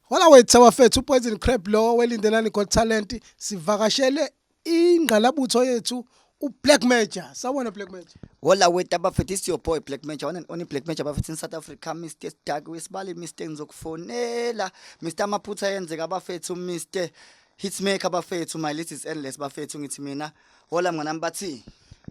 Hola wethu abafethu uPoison Crab lo welindelani Got Talent sivakashele ingqalabutho yethu uBlack Major. Sawona Black Major. Hola wethu abafethu it's your boy Black Major. One and only Black Major abafethu in South Africa Mr. Dark wesibali Mr. Ngizokufonela Mr. Maphutha yenzeka abafethu Mr. Hitsmaker bafethu my list is endless bafethu ngithi mina Hola mnganami bathi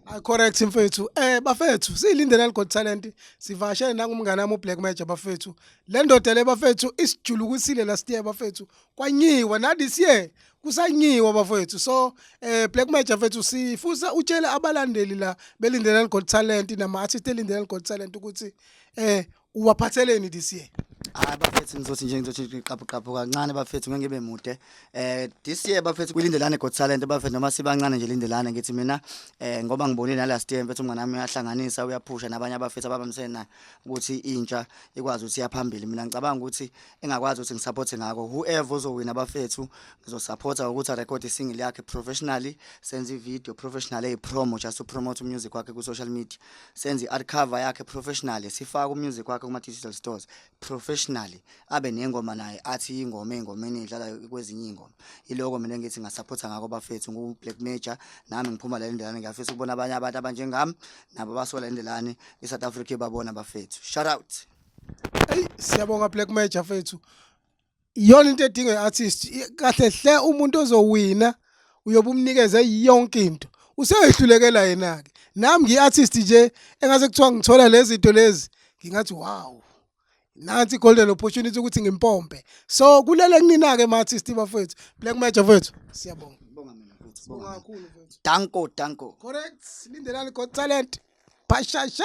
I correct mfethu. Eh bafethu silindele liGod Talent sivashele nangumngane wami uBlack Major bafethu. Le ndoda le bafethu isijulukusile last year bafethu. Kwanyiwa na this year kusanyiwa bafethu. So eh Black Major mfethu sifusa utshele abalandeli la belindele liGod Talent nama artist elindele liGod Talent ukuthi eh uwaphatheleni this year hayi bafethu ngizothi nje ngizothi ngiqaphu qaphu kancane bafethu ngeke ngibe mude eh this year bafethu kulindelane got talent bafethu noma sibancane nje lindelane ngithi mina eh ngoba ngibonile na last year mfethu umngane wami uyahlanganisa uyaphusha nabanye abafethu ababamsena ukuthi intsha ikwazi ukuthi yaphambili mina ngicabanga ukuthi engakwazi ukuthi ngisupporte ngako whoever ozowina abafethu ngizosupporta ukuthi a record single yakhe professionally senze video professionally promo just to promote music wakhe ku social media senze i-art cover yakhe professionally sifake umusic wakhe kuma-digital stores professionally abe nengoma naye athi ingoma ey'ngomeni edlalayo kwezinye iy'ngoma iloko mina ngithi ngasaphotha ngako bafethu ngu-black major nami ngiphuma la lendelane ngiyafisa ukubona abanye abantu abanjengami nabo basola lendelane i-south africa ibabona bafethu shout out eyi siyabonga black major fethu iyona into edinga i-artist kahle hle umuntu ozowina uyobe umnikeze yonke into useyehlulekela yena-ke nami ngiyi-artist nje engase kuthiwa ngithola lezi zinto lezi ngingathi wow nansi i-golden opportunity ukuthi ngimpompe so kulele kunina-ke ma-artist bafowethu black major fowethu siyabonga danko danko correct lindelani got talent bashasha